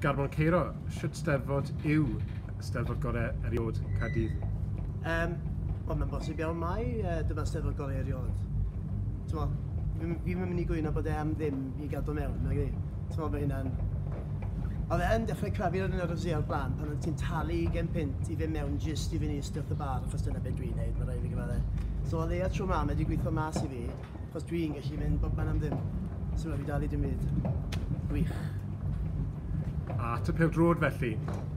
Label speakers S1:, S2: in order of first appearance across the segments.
S1: Garbon Ceiro, shwt steddfod yw steddfod gorau eriod Caerdydd? Yym,
S2: wel mae'n bosib iawn mai uh, dyma steddfod gorau eriod. T'mo, fi fi ddim yn mynd i gwyno bod e am ddim i gadw mewn, nag i? T'mo, mae hynna'n... Oedd e yn dechrau crafu ar yr RFZ o'r blaen pan oedd ti'n talu gen pint i fe mewn jyst i fynd i ystyrth y bar, achos dyna beth dwi'n neud, mae rhaid fi gyfadde. So o leia tro ma, mae wedi gweithio mas i fi, Os dwi'n gallu mynd bob man am ddim, sy'n rhaid fi dalu dim byd. Gwych.
S1: A typio'r drwyd felly.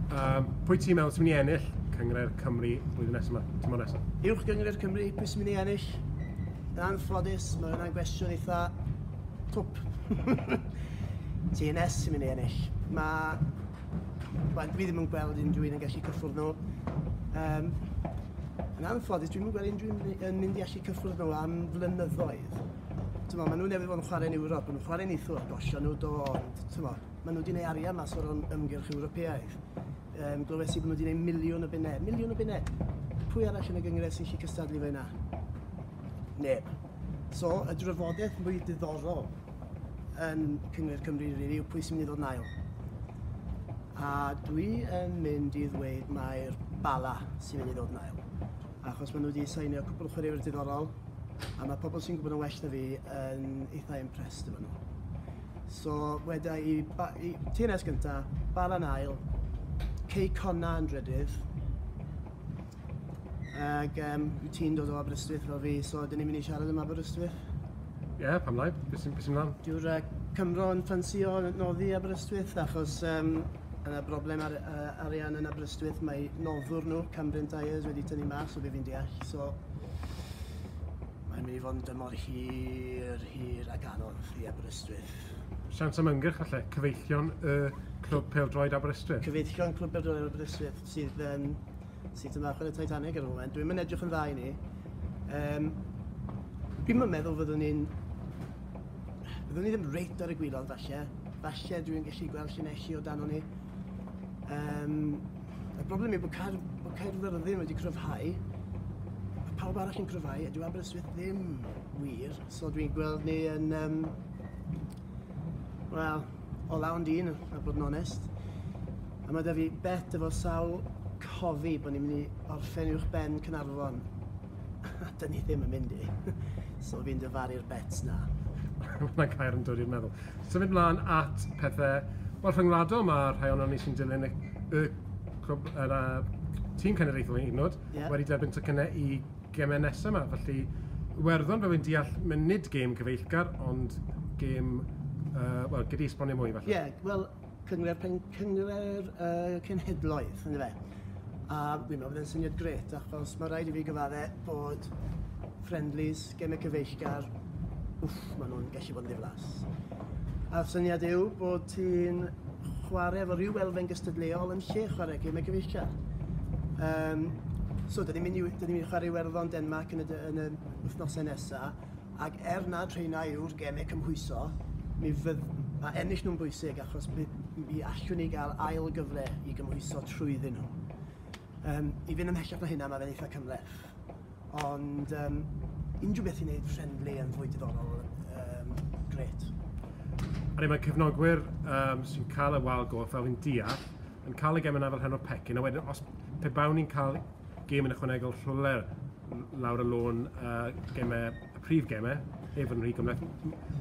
S1: Um, pwy ti'n meddwl sy'n mynd i ennill Cyngre'r Cymru blwyddyn nesaf yma, tymor nesaf? Uwch Gyngre'r Cymru,
S2: pwy sy'n mynd i ennill? Yn anffodus, mae hwnna'n gwestiwn eitha twp. TNS sy'n mynd i ennill. Mae Wel, dwi ddim yn gweld unrhyw un yn gallu cyffwrdd nhw. Um, yn anffodus, dwi'n gweld unrhyw un yn mynd i allu cyffwrdd nhw am flynyddoedd. Tyma, maen nhw'n newydd fod yn chwarae'n Ewrop, maen nhw'n chwarae'n eithwr, gosio nhw do, ond tyma, maen nhw wedi gwneud arian mas o'r ymgyrch Ewropeaidd. Um, glywes i bod nhw wedi gwneud miliwn o bunnau, miliwn o bunnau. Pwy arall yn y gyngres sy'n gallu cystadlu fe yna? Neb. So, y drafodaeth mwy diddorol yn Cyngred Cymru rili yw pwy sy'n mynd i ddod yn ail. A dwi yn mynd i ddweud mae'r Bala sy'n mynd i ddod yn ail. Achos maen nhw wedi sainio cwpl o chwaraewyr diddorol, a mae pobl sy'n gwybod yn well na fi yn eitha impressed efo nhw. So, weda i, ba, i TNS gyntaf, Bala'n ail, Cei Conna yn drydydd, Ac um, ti'n dod o Aberystwyth fel fi, so dyn ni'n mynd i siarad am Aberystwyth. Ie, yeah, pam
S1: lai? Beth sy'n sy mlaen? Dyw'r uh, Cymro
S2: yn ffansio noddi Aberystwyth achos um, yna broblem ar, uh, arian yn Aberystwyth mae noddwr nhw, Cambrian Tyres, wedi tynnu mas o beth fi'n deall. So, mae'n mynd i fod yn dymor hir, hir ac anodd i Aberystwyth. Sians am
S1: ymgyrch falle, cyfeillion y uh, clwb peldroed Aberystwyth? Cyfeillion clwb peldroed
S2: Aberystwyth. sydd yn sut yn dda chwarae Titanic ar y foment. Dwi'm yn edrych yn dda i ni. Um, Dwi'm yn meddwl fyddwn ni'n... Byddwn ni ddim reit ar y gwylod falle. Falle dwi'n gallu gweld llinelli o dan o'n ni. Um, y broblem yw bod cair, bod cair yr ddim wedi cryfhau. Mae pawb arall yn cryfhau a dyw Aberystwyth ddim wir. So dwi'n gweld ni yn... Um, Wel, o lawn dyn, a bod yn onest. A mae da fi bet efo sawl cofi bod ni'n mynd i orffen uwch ben Cynarfon. A dyn ni ddim yn mynd i. so fi'n dyfaru'r bets na. Mae gair
S1: yn dod i'r meddwl. Symud mlaen at pethau wel, rhyngwladol, mae rhai o'n ni sy'n dilyn y, y, y, y, y tîm cenedlaethol yn hyd yn oed yeah. wedi derbyn tocynnau i Gemau nesaf 'ma, felly Iwerddon fel fi'n deall, mae nid gêm cyfeillgar, ond gêm, uh, wel, gyd i esbonio mwy falle. Ie, yeah, wel,
S2: cyngred, pen, cyngred uh, cenhedloedd, ynddo fe. A fi'n meddwl bod e'n syniad gret, achos mae rhaid i fi gyfadde bod friendlies, gemau cyfeillgar, wff, maen nhw'n gallu bod yn ddiflas. A'r syniad yw bod ti'n chwarae efo rhyw elfen gystadleuol yn lle chwarae gymau cyfeillgar. Um, so, dyn ni'n mynd i, dyn ni'n chwarae werddon Denmark yn y, yn y wythnosau nesaf, ac er na treina yw'r gemau cymhwyso, mi fydd, mae ennill nhw'n bwysig achos mi, mi allwn ni gael ail gyfle i gymhwyso trwyddyn nhw. Um, I fynd ymhellach na hynna, mae fe'n eitha cymleth. Ond um, unrhyw beth i wneud friendly yn fwy diddorol, um, gret.
S1: A ni mae cefnogwyr um, sy'n cael y wal golf fel yn deall, yn cael y gem yna fel hyn o pecyn, a wedyn os pe bawn ni'n cael gem yn ychwanegol rhywle lawr y lôn uh, gemau, y prif gemau, ef yn rhy gymleth,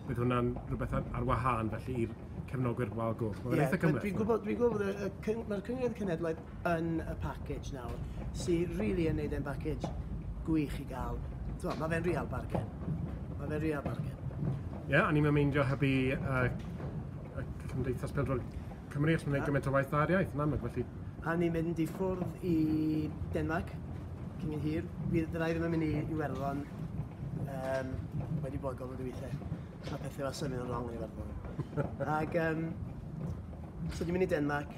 S1: bydd hwnna'n rhywbeth ar, ar wahân felly i'r cefnogwyr wal golf. Mae'n yeah, eitha cymleth. Dwi'n gwybod, dwi'n gwybod,
S2: mae'r Cyngor Cenedlaeth yn y package nawr sy'n really yn neud e'n package gwych i gael. Twa, mae fe'n real bargain. Mae fe'n real bargain. Ie, yeah, a ni'n meindio
S1: hybu uh, y Cymdeithas Pildro'r Cymru os mae'n gymaint o waith dda'r iaith, yn amlwg, felly... A ni'n mynd i
S2: ffwrdd i Denmark, cyn i'n hir. Bydd rai ddim yn mynd i Iwerddon um, wedi bod gofod i weithiau. Mae pethau fel symud yn wrong yn Iwerddon. Ac, um, so ni'n mynd i Denmark,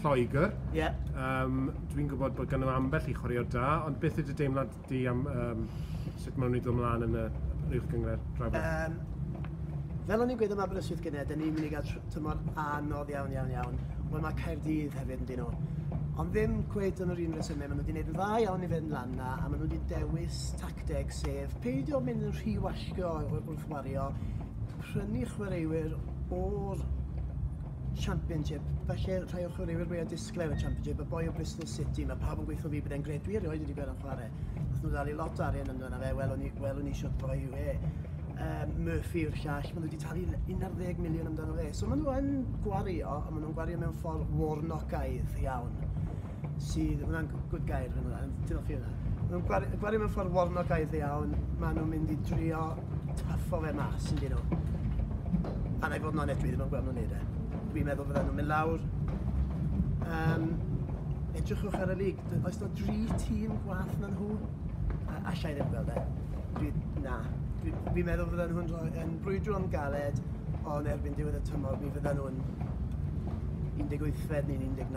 S1: Lloegr. Ie. Yym,
S2: dwi'n
S1: gwybod bod ganddo ambell i chwaraewr da, ond beth yw dy deimlad di am um, sut maen nhw'n ei ddod ymlaen yn y rhywch gyngred draw? Um,
S2: fel o'n i'n gweud am Aberystwyth gynnau, dyn ni'n mynd i gael tymor anodd iawn, iawn, iawn. Wel, mae Caerdydd hefyd yn dyn nhw. Ond ddim cweith yn yr un resymau, maen nhw wedi gwneud yn dda iawn i fynd lan na, a maen nhw wedi dewis tacteg sef peidio mynd yn rhy wallgo wrth wario, prynu chwaraewyr o'r Championship. Felly, rhai o chwaraewyr mwyaf disglair y Championship, y boi o Bristol City, mae pawb yn gweithio fi bod e'n gred. Dwi erioed wedi gweld yn chwarae. Nath nhw ddalu lot o arian amdano fe, welwn ni, welwn ni siwt boi yw e. Um, Murphy yw'r llall, maen nhw wedi talu 11 miliwn amdano fe. So maen nhw yn gwario, a maen nhw'n gwario mewn ffordd warnocaidd iawn. sydd, ma' hwnna'n g- good gair fan yna, ond diolch i hwnna. Ma' nhw'n gwari- yn gwario mewn ffordd warnogaeth iawn, ma' nhw'n mynd i drio tyffo fe mas yn dyn nhw. A na i fod yn onest, dwi ddim yn gweld nhw'n neud e. Dwi'n meddwl fydden nhw'n mynd lawr. Um, edrychwch ar y lig, D- oes na dri tîm gwaith na nhw? A- Alla i ddim gweld e. Dwi, na. Dwi- Dwi'n meddwl fydden nhw'n rhoi, yn brwydro am galed, ond erbyn diwedd y tymor, mi fydden nhw'n 18fed neu'n 19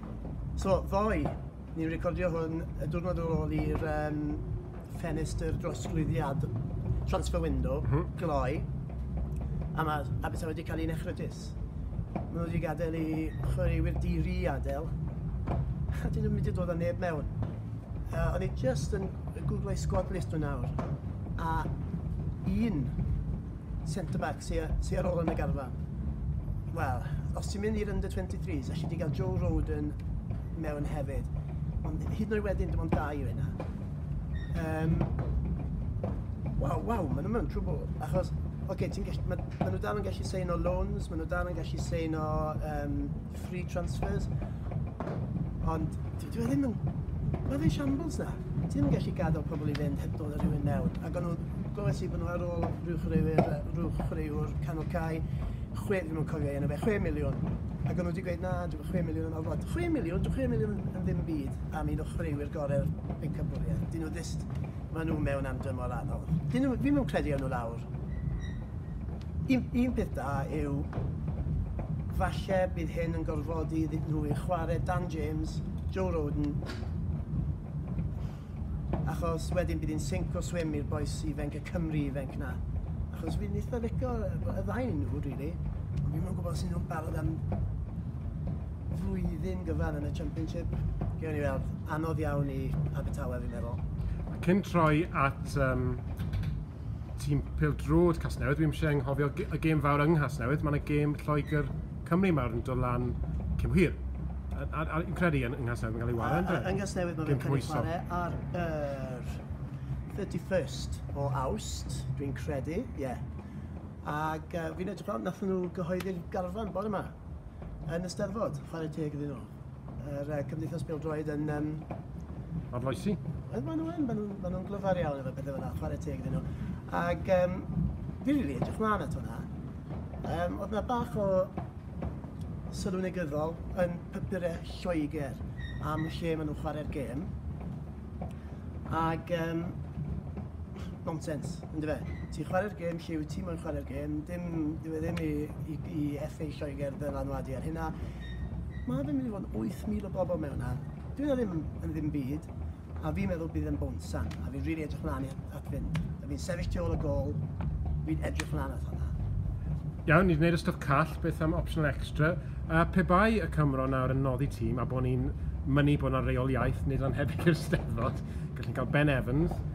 S2: So, ddoe, ni'n recordio hwn y diwrnod ar ôl i'r um, ffenestr drosglwyddiad transfer window mm -hmm. gloi, a mae Abertawe wedi cael ei nechrytus. Mae nhw wedi gadael i chwaraewyr diri adael, a dyn nhw'n mynd i dod â neb mewn. Uh, o'n i just yn googlau squad list nhw nawr, a un centre-back sy sy ar ôl yn y garfan. Wel, os ti'n mynd i'r under-23s, allu di gael Joe Roden mewn hefyd. Ond hyd yn oed wedyn, dim ond dau o hynna. Um, waw, waw, maen nhw mewn trwbl. Achos, oce, okay, ti'n gallu, maen ma nhw dal yn gallu sein o loans, maen nhw dal yn gallu sein o um, free transfers. Ond dwi e ddim yn... Mae fe shambles na. Ti ddim yn gallu gadael pobl i fynd heb dod â rhywun mewn. Ac o'n nhw, glywes i bod nhw ar ôl rhyw chreuwr canol cae, chwe, ddim yn cofio enw fe, 6 miliwn. Ac o'n nhw wedi gweud, na, dwi'n 6 miliwn yn orfod. 6 miliwn, dwi'n 6 miliwn yn ddim byd am un o chreuwyr gorau'r pencampwriaeth. Dyn nhw ddist, maen nhw mewn am dymor anodd. Dyn nhw, fi'n credu o'n nhw lawr. Un, un peth da yw, falle bydd hyn yn gorfodi iddyn nhw i chwarae Dan James, Joe Rodon, achos wedyn bydd hi'n sync o swim i'r bois ifanc, y Cymry ifanc na. Achos fi'n eitha licio y ddau nhw, rili. Really. Ond fi'n mwyn gwybod sy'n nhw'n barod am flwyddyn gyfan yn y Championship. Gewn ni weld. Anodd iawn i Abertawe, fi'n meddwl. Cyn troi
S1: at um, tîm pêl-drod Casnewydd, dwi'm isie anghofio ge- y gêm fawr yng Nghasnewydd, ma' 'na gêm Lloegr Cymru mawr yn dod lan cyn hir. A a a fi'n credu yn yng Nghasnewydd ma'n ga'l 'i ware yndyw e? Yng Nghasnewydd ma' fe'n ca'l 'i
S2: chware ar yr 31st o Awst, dwi'n credu, ie. Ag yy fi'n edrych mlan, nathon nhw gyhoeddi'r garfan bore 'ma yn y Steddfod, chware teg iddyn nhw. Yr uh, Cymdeithas Bildroed yn... Um...
S1: Arloesi? Wel, maen nhw'n
S2: ma nhw, ma nhw glyfar iawn efo pethau fyna, chwarae teg iddyn nhw. Ac um, fi rili edrych mlaen at hwnna. Um, oedd yna bach o sylw negyddol yn papurau Lloegr am lle maen nhw'n chwarae'r gêm. Ac um, nonsens, yn fe. Ti'n chwarae'r gêm lle wyt ti moyn chwarae'r gêm, dim, dwi e ddim i, i, i FA Lloegr ddylanwadu ar hynna. Mae fe'n mynd i fod yn 8,000 o bobl mewn a dwi na ddim yn ddim byd. A fi'n meddwl bydd yn bonsan, a fi'n rili really edrych mlaen at fynd. A fi'n sefyll tu ôl y gol, fi'n edrych mlaen at hwnna. Iawn, ni wedi
S1: gwneud y stwff call, beth am optional extra? A pe bai y Cymro nawr yn noddi tîm a bod ni'n mynnu bod yna reoliaeth nid anhebyg i'r Steddfod, gallwn cael Ben Evans,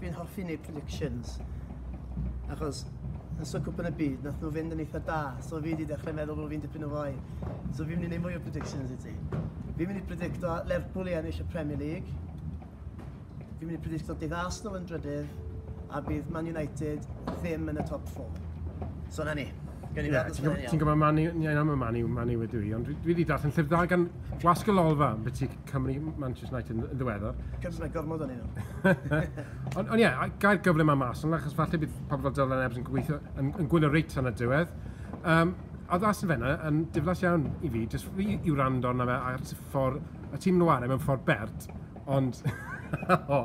S2: Fi'n hoffi neud predictions achos yn so cwpan y byd nath nhw fynd yn eitha da so fi wedi dechrau meddwl bod fi'n dipyn o fai so fi'n mynd i neud mwy o predictions i ti. Fi'n mynd i predicto Lerpwl i ennill y Premier League. Fi'n mynd i predicto bydd Arsenal yn drydydd a bydd Man United ddim yn y top 4. So na ni. Gen i yeah, ti'n gwybod Manu, ie, na, mae Manu, Manu wedi i, ond dwi wedi darllen llyfr da gan Wasg y Lolfa, beth ti'n Cymru, Manchester United yn ddiweddar. Cymru, mae gormod o'n
S1: un. Ond ie, yeah, gael gyfle mae mas, ond achos falle bydd pobl fel Dylan Ebbs yn gweithio, yn, yn gwylio reit yn y diwedd. Um, a ddas yn fenna, yn diflas iawn i fi, jyst fi i wrando arno fe ar ffordd, y tîm nhw arem yn ffordd bert, ond, o,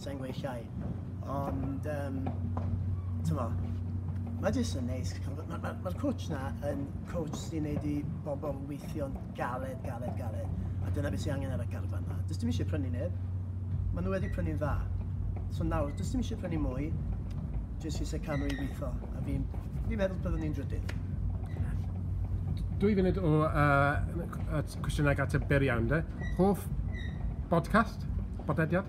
S2: sa i'n gweud llai, ond um, tyma, mae jyst yn neis. Mae'r ma, ma, ma coach na yn coach sy'n gwneud i bobl weithio'n galed, galed, galed. A dyna beth sy'n angen ar y garfan na. Dys dim eisiau prynu neb. Mae nhw wedi prynu'n dda. So nawr, dys dim eisiau prynu mwy. Jyst eisiau cadw i weithio. A fi'n fi meddwl byddwn ni'n drydydd
S1: dwy funud o uh, cwestiynau at y beriawn de. Hoff podcast? Bodlediad?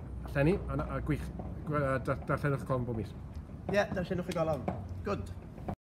S1: Llenni,
S2: a,
S1: a gwych, darllenwch
S2: y colofn bob
S1: mis. Ie,
S2: darllenwch
S1: y golofn. Gwd.